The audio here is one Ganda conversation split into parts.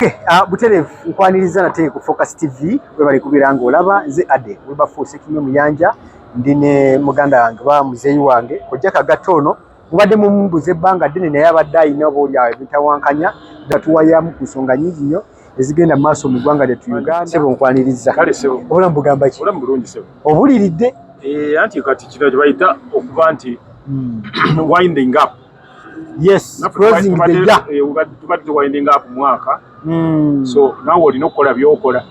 Okay, uh, Buterevu nkwaniriza nate ku Focus TV webali kubeera ng'olaba nze Ade Wilberforce Kimwe Muyanja ndi ne muganda wange ba muzeeyi wange kojja kagatta ono mubadde mumubuza ebbanga ddene naye abadde alina oba oli awo ebitawankanya nga tuwayamu ku nsonga nyingi nnyo ezigenda maaso mu ggwanga lyattu uganda sebo nkwanirizza kale sebo obulamu bugamba ki obulamu bulungi sebo obuliridde eh, anti kati kino kyebayita okuba nti hmm. winding up yes closing the year eh, tubadde winding up mwaka hmm. so nawe olina okukola byokola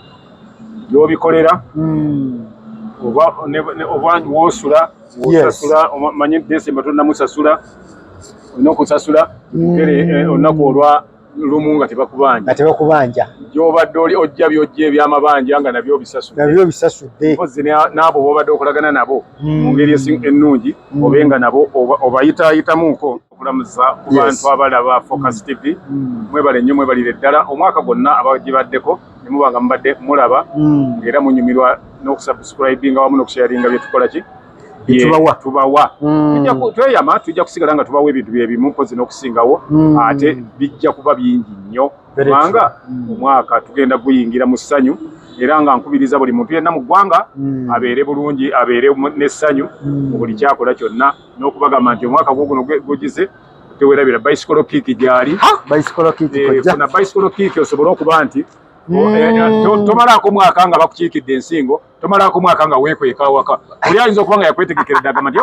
byobikolera hmm. oba wosula osasula manyi desemba tonamusasula olina okusasula olinaku olwa lumu nga tebakubanja nga tebakubanja gyobadde oli ojja byojja ebyamabanja nga nabyo obisasudde nabyo obisasudde mpozi n'abo bobadde okolagana nabo hmm. mu ngeri ennungi hmm. obe nga nabo obayitaayitamuko okulamuza ku bantu abalaba focus hmm. tv mwebale nnyo mwebalire ddala omwaka gwonna abagibaddeko ne muba nga mubadde mulaba era munyumirwa n'okusubscribinga wamu n'okusharinga byetukola ki tubawa tubawa mm. tweyama tujja kusigala nga tubawa ebintu byebimu mpozi n'okusingawo mm. ate bijja kuba bingi nnyo kubanga mm. omwaka tugenda guyingira mu ssanyu era nga nkubiriza buli muntu yenna mu ggwanga abeere bulungi abeere n'essanyu mu buli kyakola kyonna n'okubagamba nti omwaka gwo guno gugize tewerabira bicycle kick gyali eh, funa bicycle kick osobole okuba nti eh, eh, tomalaako mwaka nga bakukiikidde ensingo tomalaako mwaka nga weekweka awaka oli ayinza okuba nga yakwetegekera eddagama nti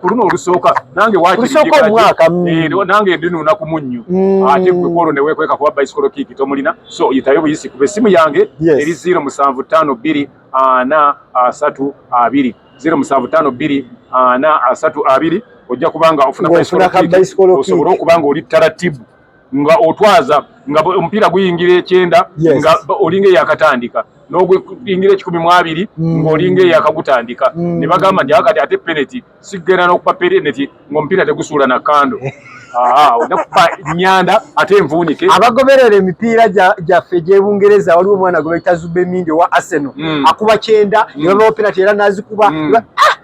ku luno olusooka nange wakinange eh, ndinuuna ku munnyu mm. ate gwe kwolwo ne weekweka kuba bicycle kiiki tomulina so yitayo buyisi kuba essimu yange eri ziro musanvu ttaano bbiri ana asatu abiri ziro musanvu ttaano bbiri ana asatu abiri ojja kubanga ofuna bicycle kiiki osobole okuba nga oli taratibu nga otwaza nga omupiira guyingira ekyenda nga olinga eyakatandika n'oguyingira ekikumi mu abiri mm. ng'olinga eyakagutandika mm. ne bagamba nti akati ate peneti sigenda n'okupa peneti ng'omupiira tegusuula na kando onakupa nyanda ate envuunike abagoberera emipiira gyaffe egy'ebungereza waliwo omwana gwe bayita zubemindi owa arsenal mm. akuba kyenda ne babawo penati era n'azikuba ah!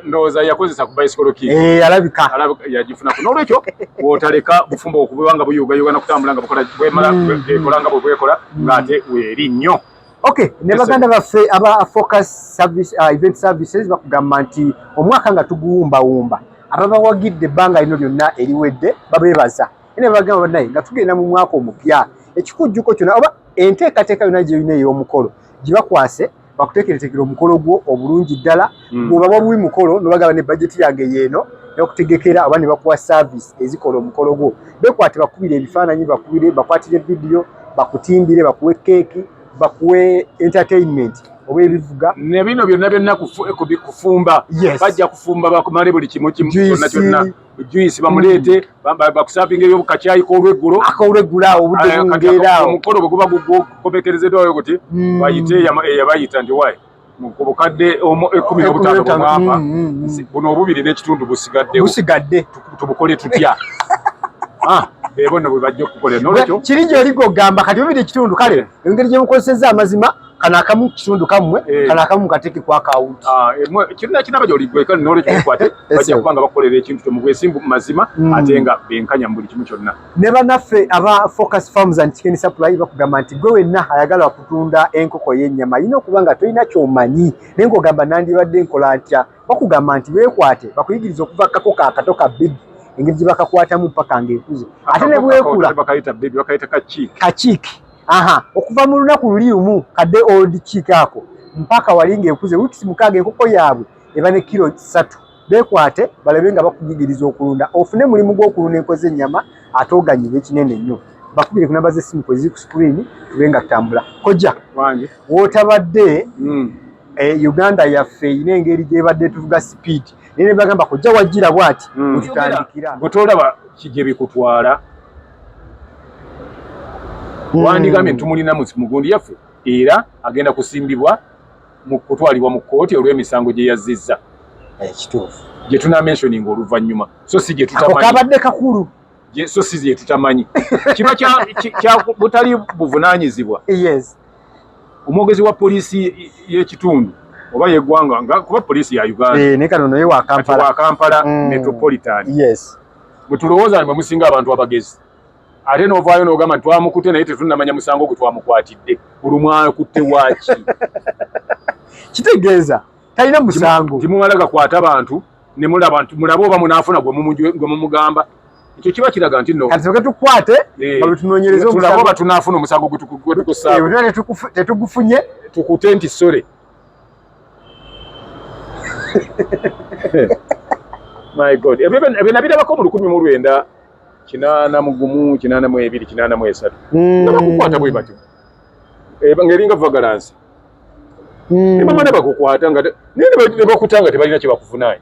ndowooza yakozesa ku bicycle ki eh, alabika yagifuna ku n'olwekyo wotaleka bufumbo okubewa nga buyugayuga nakutambula nga bukola bwemala hmm. ekola nga bwebwekola ng'ate weeri nnyo ok ne baganda baffe aba focus service uh, event services bakugamba nti omwaka nga tuguwumbawumba ababawagidde ebbanga lino lyonna eriwedde babeebaza ene bagamba banaye nga tugenda mu mwaka omupya ekikujjuko kyona oba enteekateeka yona gyeyina ey'omukolo gibakwase bakutekeretekera omukolo gwo obulungi ddala mm. bwoba waliwo mukolo nobagaba ne bajeti yange yeeno nokutegekera oba nebakuwa service ezikola omukolo gwo bekwate bakubire ebifaananyi bakubire bakwatire vidiyo bakutimbire bakuwe keeki bakuwe entertainment oba ebivuga nebino byonna byonna kufumba bajja kufumba bakumale buli kimu kimu kyonna kyonna juice bamuleete mm. bakusavinga eyo kacyayi kolweggulo akolweggulo awo obudde eh, bungeera awo omukono bwe guba gukomekerezedwa oyo kuti mm. bayite eyabayita ndi wayi ku bukadde ekumi nobutaano bwemwapa mm, buno obubiri n'ekitundu busigadde busigadde tubukole tutya ah, bebo no bwe bajja okukolera nolwekyo kiri gyoli gwogamba kati bubiri ekitundu kale engeri gye bukozesezza amazima kano akamu kitundu kamwe eh. kano akamu kateke kwa account ah emwe eh, kirina kinaba joli gwe kali nole kyo kwate eh, bajja kubanga bakolera ekintu kyo mugwe simbu mazima mm. atenga benkanya mbuli kimu kyonna ne banaffe aba focus farms and chicken supply bakugamba nti gwe wenna ayagala kutunda enkoko y'ennyama yina okubanga tolina kyomanyi naye ng'ogamba nandibadde nkola ntya bakugamba nti beekwate bakuyigiriza okuva kako ka kato ka big engeri gye bakakwatamu mpaka ng'ekuze ate ne bwekula kakiiki aha okuva mu lunaku luli lumu kadde old chick ako mpaka wali ng'ekuze wiikisi mukaaga enkoko yaabwe eba ne kiro ssatu beekwate balabe nga bakuyigiriza okulunda ofune mulimu gw'okulunda enko z'ennyama ate oganyirwa ekinene nnyo bakubire ku namba z'essimu kwe ziri ku sikuliini tube nga tutambula kojja wootabadde hmm. eh, uganda yaffe erina engeri gyebadde tuvuga sipiidi naye ne bagamba kojja wajjira bwati hmm. mututandikira gwe tolaba kigye bikutwala hmm. wandigambye tumulina mugundi yaffe era agenda kusimbibwa mu kutwalibwa mu kkooti olw'emisango gye yazzizza ekituufu eh, gye tunamentioninga oluvannyuma so si gye tutakabadde kakulu so si gye tutamanyi kiba kya butali buvunaanyizibwa omwogezi wa poliisi y'ekitundu oba yeggwanga nga kuba poliisi ya uganda eh, ne kano naye wa kampala mm. metropolitan yes Bwe tulowooza nti mwe musinga abantu abagezi ate n'ovaayo n'ogamba nti twamukutte naye tetunnamanya musango gwe twamukwatidde olwo mwakutte waaki? Kitegeeza talina musango. Timumala gakwata bantu ne mulaba nti mulabe oba munaafuna gwe mumugamba ekyo kiba kiraga nti no kati soke tukwate eh, nga tunoonyereza omusango oba tunaafuna omusango gwe tukusaako eh, tetugufunye tukute nti sore my god ebyo nabirabako mu lukumi mu lwenda kinaana mu gumu kinaana mu ebiri kinaana mu esatu hmm. nga bakukwata bwe batyo eh, nga eringa vagalansi hmm. nebamana bakukwata nga naye nebakuta nga tebalina kyebakuvunaanyi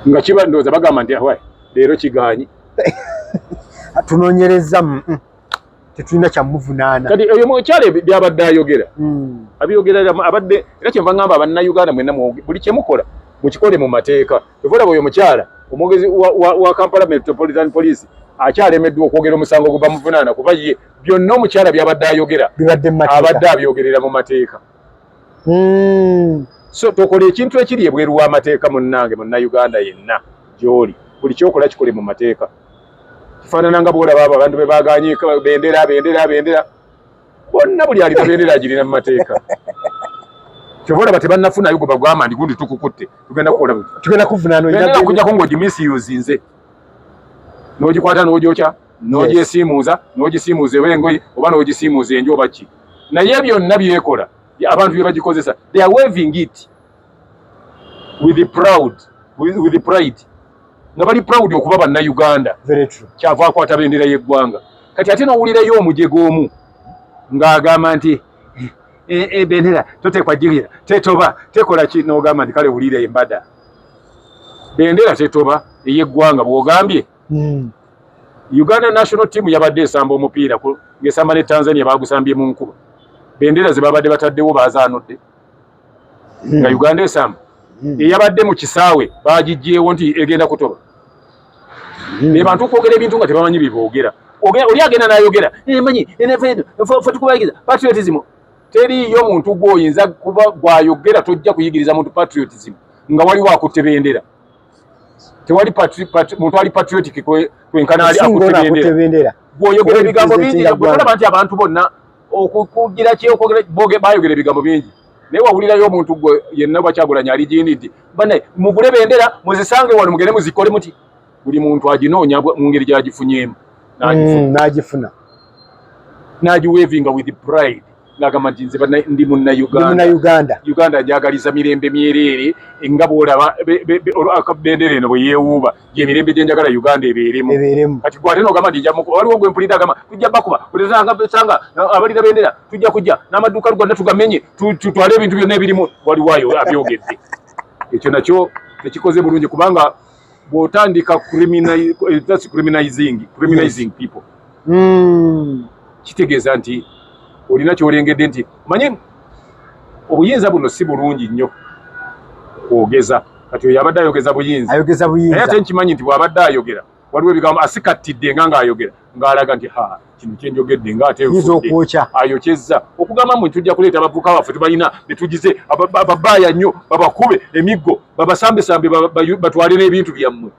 nga kiba ndowooza bagamba nti leero kigaanyi tunonyereza tetulina kyamuvunaana kati eyo mukyala byabadde ayogera hmm. abiyogera abadde era kyenva ngamba abannayuganda mwena buli kyemukola mukikole mu mateeka evolaba oyo mukyala omwogezi wa kampala metropolitan police akyalemeddwa okwogera omusango gwe bamuvunaana kuba ye byonna omukyala byabadde ayogera abadde abyogerera mu mateeka hmm. so tokola ekintu ekiri ebweru w'amateeka munnange munnayuganda yenna gy'oli buli kyokola kikole mu mateeka kifaanana nga bwolaba abo abantu bebaganye bendera bendera bendera bonna buli alina bendera agirina mu mateeka kyova olaba tebannafunayo gwe bagwama ndi gundi tukukutte tugenda kukola tugenda kuvunaanbendera kujjako ngaogimisiyuzinze n'ogikwata n'ogyokya n'ogyesiimuuza n'ogisiimuuza eba engoye oba n'ogisiimuuza enju oba ki naye byonna byekola abantu bye bagikozesa they are waving it with the proud with, with the pride nga bali proud okuba banna Uganda kyava akwata bendera y'eggwanga kati ate nowulirayo omujega omu ng'agamba nti eh, eh, bendera totekwa jigera tetoba tekola ki nogamba nti kale wulira embada bendera tetoba ey'eggwanga bwogambye hmm. Uganda national team yabadde esamba omupiira ng'esamba ne Tanzania bagusambye mu nkuba bendera zebabadde bataddewo bazaanudde hmm. nga uganda esamba hmm. eyabadde mu kisaawe bagijjeewo nti egenda kutoba hmm. ne bantu okwogera ebintu nga tebamanyi byeboogera oli agenda nayogera eh, manyi enefeedo fe tukubayigiza patriotism teriiyo muntu gwoyinza kuba gwayogera tojja kuyigiriza muntu patriotism nga waliwo akutte bendera tewali muntu ali patriotic kwenkana ali akutte bendera gwoyogera ebigambo bingi olaba nti abantu bonna okukugira kyeyokwogera boge bayogera ebigambo bingi naye wawulirayo omuntu gwe yenna bakyagulanya ali jini nti bane mugule bendera muzisange wano mugende muzikole muti buli muntu aginoonya mu ngeri gyagifunyeemu nagifuna mm, nagiwevinga with pride nagamba nti nze ndi munauganda uganda njagaliza mirembe myereere nga bwolaba bendera eno bweyewuuba gyemirembe gyenjagala uganda ebeeremu kati gwate nogamba nti waliwo gwe mpulidde agamba tujja bakuba kulezasanga abalira bendera tujja kujja n'amaduuka luganda tugamenye tutwale ebintu byonna ebirimu waliwayo abyogedde ekyo nakyo tekikoze bulungi kubanga bwotandika criminalizing eh, people hmm. kitegeeza nti olina kyolengedde nti manye obuyinza buno si bulungi nnyo kwogeza kati oyo abadde ayogeza buyinza ayogeza buyinza naye ate nkimanyi nti bw'abadde ayogera waliwo ebigambo asikattidde nga ng'ayogera ng'alaga nti ha kino kye njogedde nga ate okwokya ayokyezza okugamba mu tujja kuleeta abavuka baffe tubalina ne tugize ababaaya nnyo babakube emiggo babasambesambe batwale n'ebintu byammwe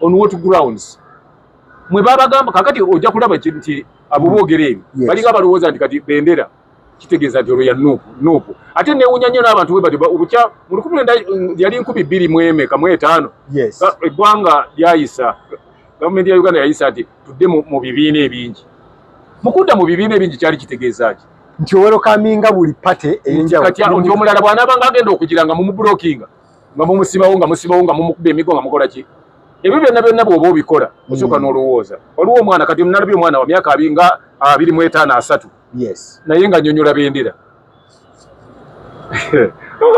on what grounds mwe babagamba kakati ojja kulaba nti abo boogera ebyo balinga balowooza nti kati bendera kitegeeza nti olwo ya nuupu nuupu ate newunya nnyo n'abantu bwe batyo obukya mu lukumi lwenda mm, yali nkumi bbiri mu emeka mu etaano eggwanga lyayisa gavumenti ya uganda yayisa nti tudde mu bibiina ebingi mu kudda mu bibiina ebingi kyali kitegeeza ki nti owerokaminga buli pate eyenjawulo nti omulala bw'anaaba nga agenda okugira nga mumubulokinga nga mumusibawo nga musibawo nga mumukuba emigo nga mukola ki ebyo byonna byonna bw'oba obikola osooka mm. n'olowooza waliwo omwana kati nalabye omwana wa myaka abiri nga abiri mu etaano asatu yes naye nga nyonyola bendera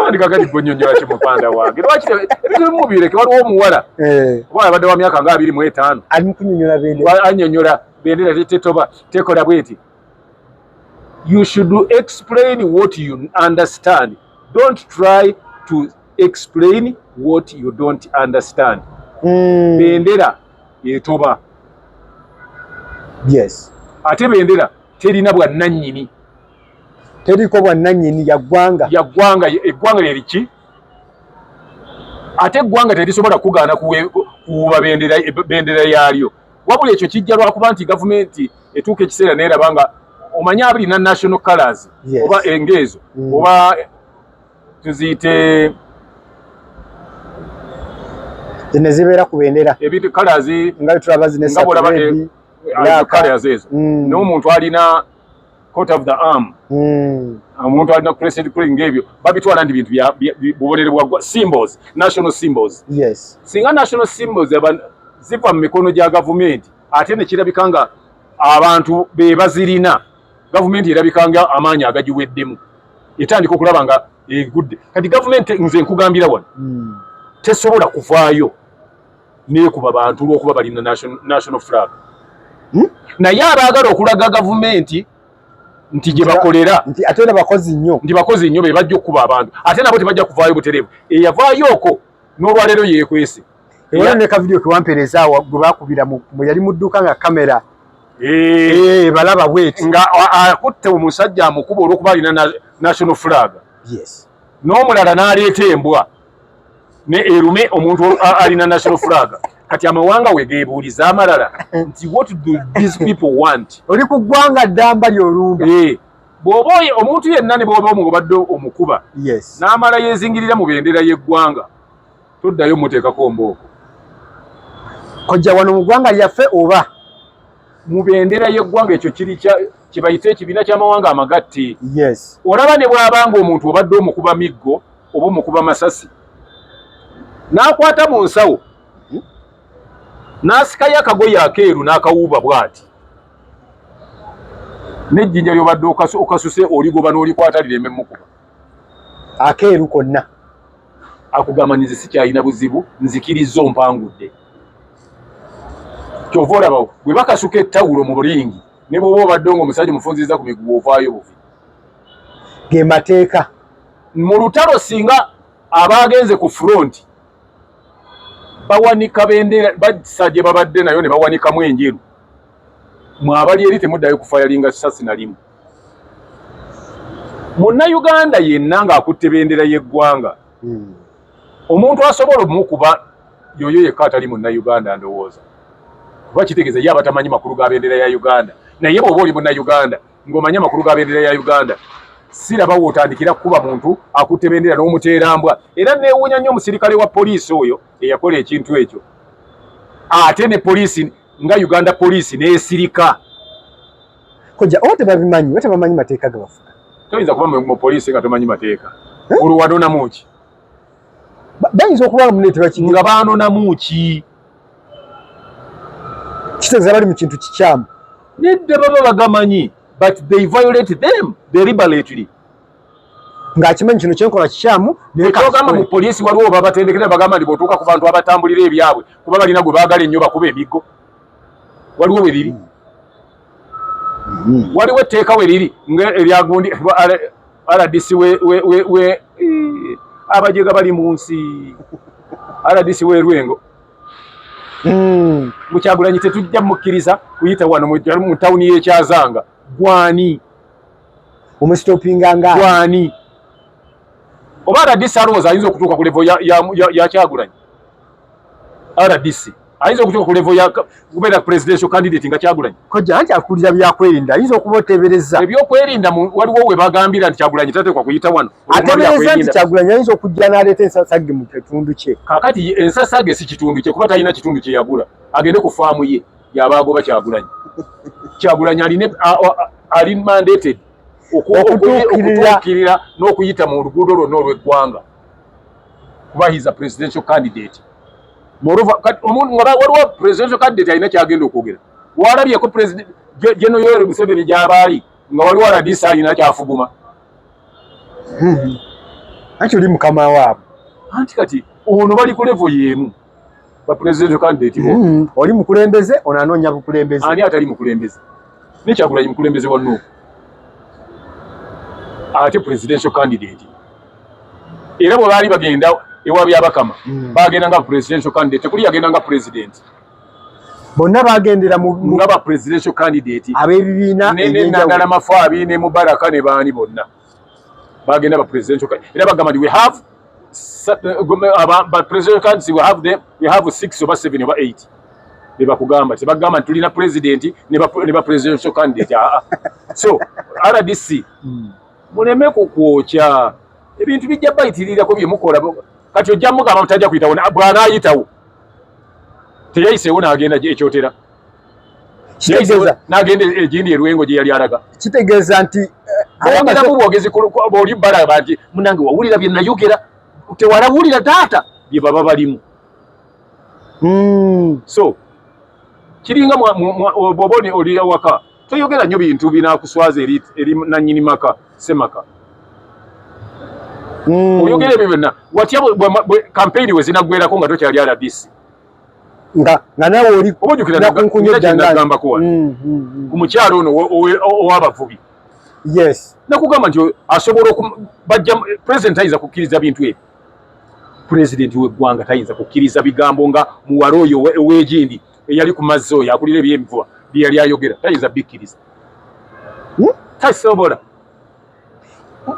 ndikakati gonyonyola ki mupanda wange lwaki ebintu bimu bireke waliwo omuwala eh. oba abadde wa myaka nga abiri mu etaano anyonyola bendera tetoba tekola bweti you should explain what you understand don't try to explain what you don't understand mm. bendera etoba yes ate bendera terina bwannanyini teriko bwannanyini yaggwanga yaggwanga eggwanga lyeriki ate eggwanga terisobola kugaana kuwuuba bendera yaalyo wabula ekyo kijja lwakuba nti gavumenti etuuka ekiseera neeraba nga omanyi abirina national colors oba engeezo mm. oba tuziyite zino zibeera ku bendera ebintu colors nga tulaba zino esatu red black colors ezo mm. n'omuntu alina coat of the arm mm. omuntu alina crested crane ng'ebyo babitwala nti bintu bubonere bwa symbols national symbols yes singa national symbols ziva mu mikono gya gavumenti ate ne kirabika nga abantu be bazirina gavumenti erabika nga amaanyi agagiweddemu etandika okulaba nga egudde kati gavumenti nze nkugambira wano hmm. tesobola kuvaayo nekuba bantu olwokuba balina national flag hmm? naye abaagala okulaga gavumenti nti gye bakolera nti ate na bakozi nnyo nti bakozi nnyo be bajja okukuba abantu ate nabo tebajja kuvaayo butereevu eyavaayo oko n'olwaleero yeekwese Ewa ne ka video kiwampereza wa gwakubira mu yali mudduka nga kamera. Eh, eh balaba wait. Nga akutte omusajja amukuba olwokuba alina na national flag. Yes. N'omulala n'aleeta embwa ne erume omuntu alina national flag. Kati amawanga we geebuuliza amalala nti what do these people want? Oli ku ggwanga ddamba ly'olumba. Eh. bw'oba omuntu yenna ne bw'oba omubadde omukuba n'amala yeezingirira mu bendera y'eggwanga Toddayo muteekako mbooko. Kojja wano mu gwanga lyaffe oba? mu bendera y'eggwanga ekyo kiri kye bayita ekibiina ky'amawanga amagatte olaba ne bw'aba nga omuntu obadde omukuba miggo oba omukuba masasi n'akwata mu nsawo hmm? n'asikayo akagoye akeeru n'akawuuba bw'ati n'ejjinja ly'obadde okasuse oligoba n'olikwata lireme mukuba akeeru konna akugamba nze sikyalina buzibu nzikirizza ompangudde kyova olaba bwe bakasuka ettawulo mu bulingi ne bwoba obadde nga omusajja omufunziriza ku miguwa ovaayo buvi ge mateeka mu lutalo singa abaagenze ku furonti bawanika bendera basa gye babadde nayo ne bawanikamu enjeru mwabali eri temuddayo kufayalinga sasi nalimu munnayuganda yenna ng'akutte bendera y'eggwanga hmm. omuntu asobola omukuba yoyo yekka atali munnayuganda ndowooza kuba kitegeeza ye abatamanyi makulu ga bendera ya uganda naye bw'oba oli munnayuganda ng'omanyi amakulu ga bendera ya uganda siraba wootandikira kukuba muntu akutte bendera n'omuteerambwa era neewuunya nnyo omusirikale wa poliisi oyo eyakola ekintu ekyo ate ne poliisi nga uganda poliisi n'esirika Kojja oba tebabimanyi oba tebamanyi mateeka gabafuga. Toyinza kuba mu poliisi nga tomanyi mateeka. Eh? Olwo wanonamu ki? Bayinza okuba mune tebakimanyi. Nga baanonamu ki? Kitegeeza bali mu kintu kikyamu. Nedda baba bagamanyi but they violate them deliberately. ng'akimanyi kino kyenkola kikyamu nekagamba mu poliisi waliwo babatendekera bagamba nti bwotuuka ku bantu abatambulira ebyabwe kuba balina gwe baagala ennyo bakuba emiggo waliwo we liri mm-hmm. waliwo etteeka we liri nga eryagundi rdc we abajega bali mu nsi rdc we lwengo mukyagulanyi mm. tetujja mukkiriza kuyita wano mu tawuni y'ekyazanga gwani omusitopinganga gwani oba rdc alowooza ayinza okutuuka ku levo yakyagulanyi RDC ayinza okutuuka ku level ya kubeera presidential candidate nga Kyagulanyi kojja anti akulira byakwerinda ayinza okuba oteebereza ebyokwerinda waliwo we bagambira nti Kyagulanyi tateekwa kuyita wano ateebereza nti Kyagulanyi ayinza okujja n'aleeta ensasage mu kitundu kye kakati ensasage si kitundu kye kuba talina kitundu kye yagula agende ku faamu ye yaba agoba Kyagulanyi Kyagulanyi alina ali mandated okutuukirira n'okuyita mu luguudo lwonna olw'eggwanga kuba he is a presidential candidate moreover kati omuntu nga waliwo presidential candidate alina kyagenda okwogera walabyeko president General Yoweri Museveni gyabaali nga waliwo rdc alina kyafuguma hmm. anti oli mukama waabwe anti kati ono bali ku levo yeemu ba presidential candidate bo mm. oli mukulembeze ono anoonya bukulembeze ani atali mukulembeze ne kyagulanyi mukulembeze wa nuupu ate presidential candidate era bwe baali bagenda ewa byabakama mm. bagenda nga presidential candidate tekuli yagenda nga president bonna bagendera nga ba presidential candidate abebibiina nenagala mafabi ne mubaraka ne baani bonna bagenda ba presidential card era bagamba we have uh, ba presidential cards we have them we have 6 oba 7 oba 8 bebakugamba tebagamba tulina president ne ba presidential candidate ah, ah. so rdc hmm. muleme kukwokya ebintu bijja bayitirirako byemukola kati ojja mugamba mutajja kuyitawo bwanayitawo teyayiseewo nagenda ekyotera kitegeeza nagenda egindi erwengo gye yali alaga kitegeeza nti bongeramu bwogezi oli balaba nti munange wawulira bye nayogera tewalawulira taata bye baba balimu hmm. so kiringa bwoba oli awaka toyogera nnyo bintu binakuswaza eri nanyini maka semaka hmm. oyogera ebyo byonna watya kampeyini we zinaggwerako nga tokyali aladisi nga nga nawe oli nakunkunya eddangambako wano mm, mm, mm. ku mukyalo ono ow'abavubi yes nakugamba nti asobola okubajja president ayinza kukkiriza bintu ebyo president w'eggwanga tayinza kukkiriza bigambo nga muwala oyo ow'egindi eyali ku mazzi oyo akulira eby'emivuba bye yali ayogera tayinza bikkiriza hmm? tasobola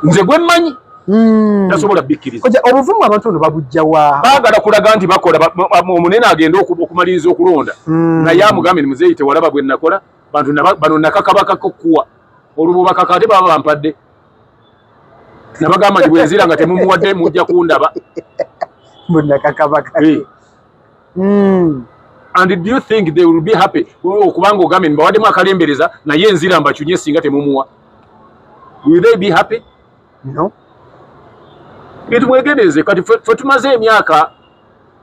nze gwe mmanyi hmm. tasobola bikkiriza obuvumu abantu ono babujja wa baagala kulaga nti bakola omunene agenda okumaliriza okulonda hmm. naye amugambe ni muzeeyi tewalaba gwe nakola bantu bano nakakabakakokuwa olwo bubakaka ate baba bampadde nabagamba nti bwenzira nga temumuwadde mujja kundaba munakakabaka eh. mm. and do you think they will be happy okubanga ogambe mbawademu akalembereza naye enzira mbakyunye singa temumuwa will they be happy no itmwegendereze kati fe tumaze emyaka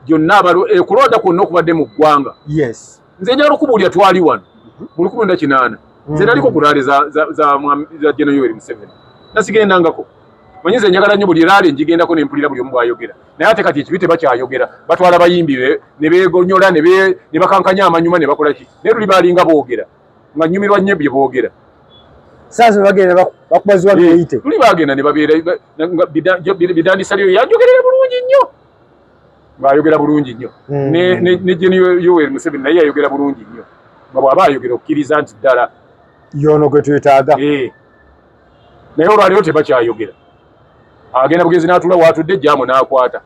gyonna ekulonda kwonna okubadde mu ggwanga yes nze njagala okubuulira twali wano mhm. mu lukumi lwenda kinaana mhm. nze naliko ku laale za jeno yoweri museveni nasigendangako manyi nze njagala nnyo buli laale njigendako ne mpulira buli omu bwayogera naye ate kati ekibi tebakyayogera batwala bayimbi ne begonyola ne bakankanya amanyuma ne bakola ki naye luli baalinga boogera nga nnyumirwa nnyo bye boogera sasa bagenda bakubaziwa biyite tuli bagenda ne babeera bidandisa lyo yanjogerera bulungi nnyo ng'ayogera bulungi nnyo mm. ne jeni yoweri museveni naye yayogera bulungi nnyo nga bw'aba ayogera okkiriza nti ddala yoono gwe twetaaga eh. naye olwaleero tebakyayogera agenda bugenzi n'atula waatudde jamu n'akwata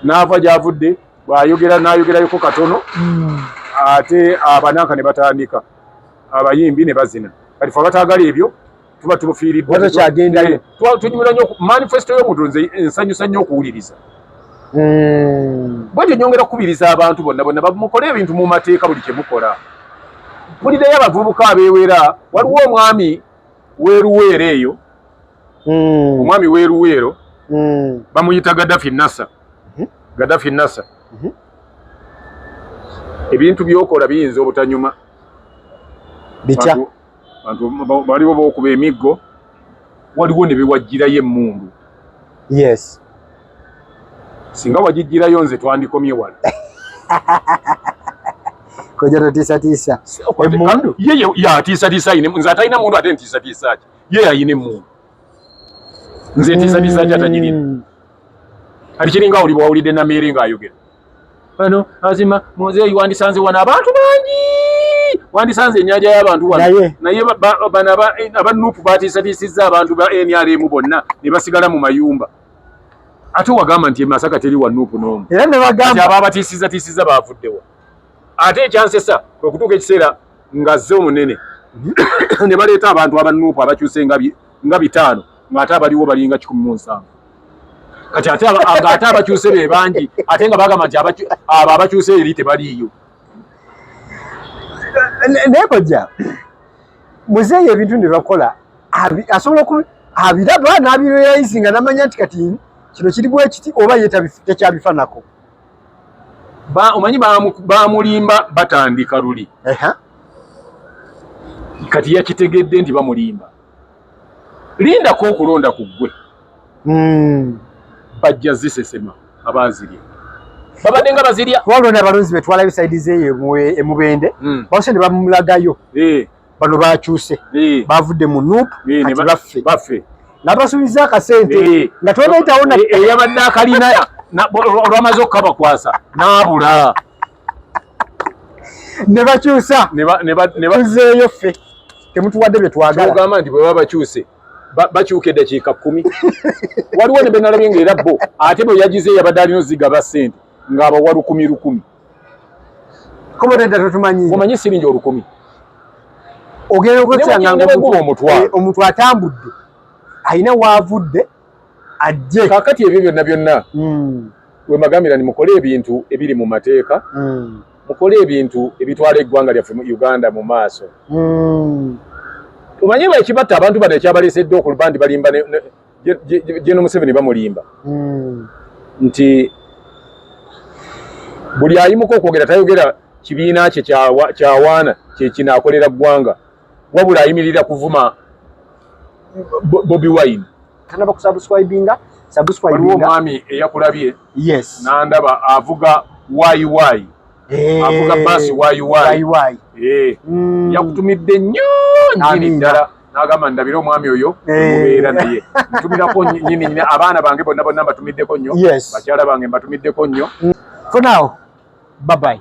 n'ava gy'avudde bw'ayogera n'ayogerayoko katono mm. ate abananka ne batandika abayimbi ne bazina kati fe abataagala ebyo tuba tubufiiriddwa takyagendayo eh, tunyumira nnyo manifesto y'omuntu nze nsanyusa nnyo okuwuliriza hmm. bwetyo nyongera kukubiriza abantu bonna bonna bamukole ebintu mu mateeka buli kye mukola bulideyo abavubuka abeewera waliwo omwami weeruweero eyo hmm. omwami weeruweero hmm. bamuyita gadafi nasa mhm. gadafi nasa mhm. ebintu byokola biyinza obutanyuma bitya bantu baliwo bokuba emiggo waliwo ne bewajjirayo emmundu yes singa wagijjirayo nze twandikomye wala koja totiisatiisa emmundu ye yatiisatiisa ayine nze atalina mundu ate ntiisatiisa ki ye ayina emmundu nze ntiisatiisa ki atagirina hmm. kati kiringa oli bwawulidde nameere nga ayogera ano azima muzeeyi wandisanze wano abantu bangi wandisanze enyanja y'abantu wano naye bano aba nupu batiisatiisizza abantu ba nrm bonna ne basigala mu mayumba ate wagamba nti emasaka teri wa nupu n'omu era ne bagamba aba batiisizatiisizza baavuddewa ate ekyansesa kwe kutuuka ekiseera ng'azze omunene ne baleeta abantu abanuupu abakyuse nga bitaano ng'ate abaliwo balinga kikumi mu nsanvu kati ate ng'ate abakyuse be bangi ate nga bagamba nti abo abakyuse eri tebaliiyo naye kojja muzeeyi ebintu ne bakola asobola oku abiraba n'abireyayizi nga namanya nti kati kino kiri bwekiti oba ye tekyabifanako omanyi bamulimba batandika luli kati yakitegedde nti bamulimba lindako okulonda ku ggwe hmm. bajja zisesema abaazirya babadde nga bazirya walonda abalonzi betwalayo saidi zeeyo emubende hmm. bawose ne bamulagayo eh. bano bakyuse eh. bavudde mu nup eh, kati baffe nabasuubiza akasente nga tobetawo eyabadde akalina olwamaze okukabakwasa naabula ne bakyusa tuzeeyo ffe temutuwadde bye twagalaogamba nti bwe baba bakyuse bakyuka eddakiika kkumi waliwo ne benalabye nga era bo ate bwe yagize yabadde alina ozigaba ssente ng'abawa lukumi lukumi omanyi siringi olukumi ogenda okwesangaomutwe eh, atambudde alina waavudde ajje kakati ebyo byonna byonna mm. wemagambira ni mukole ebintu ebiri mu mateeka mm. mukole ebintu ebitwala eggwanga lyaffe mu uganda mu maaso mm. omanye baekibatta abantu bano ekyabaleesedde okuluba nti balimba jeno museveni bamulimba mm. nti buli ayimuka okwogera tayogera kibiina kye kyawaana kyekinakolera ggwanga wabula ayimirira kuvuma Bobby Wine tanaba kusubscribinga subscribinga omwami eyakulabye yes nandaba avuga why why eh, avuga basi why why why eh mm. yakutumidde nnyo nyini ddala nagamba ndabira omwami oyo eh. mubeera naye ntumirako nyini nyini abaana bange bonna bonna mbatumiddeko nnyo yes. bakyala bange mbatumiddeko nnyo mm. for now bye bye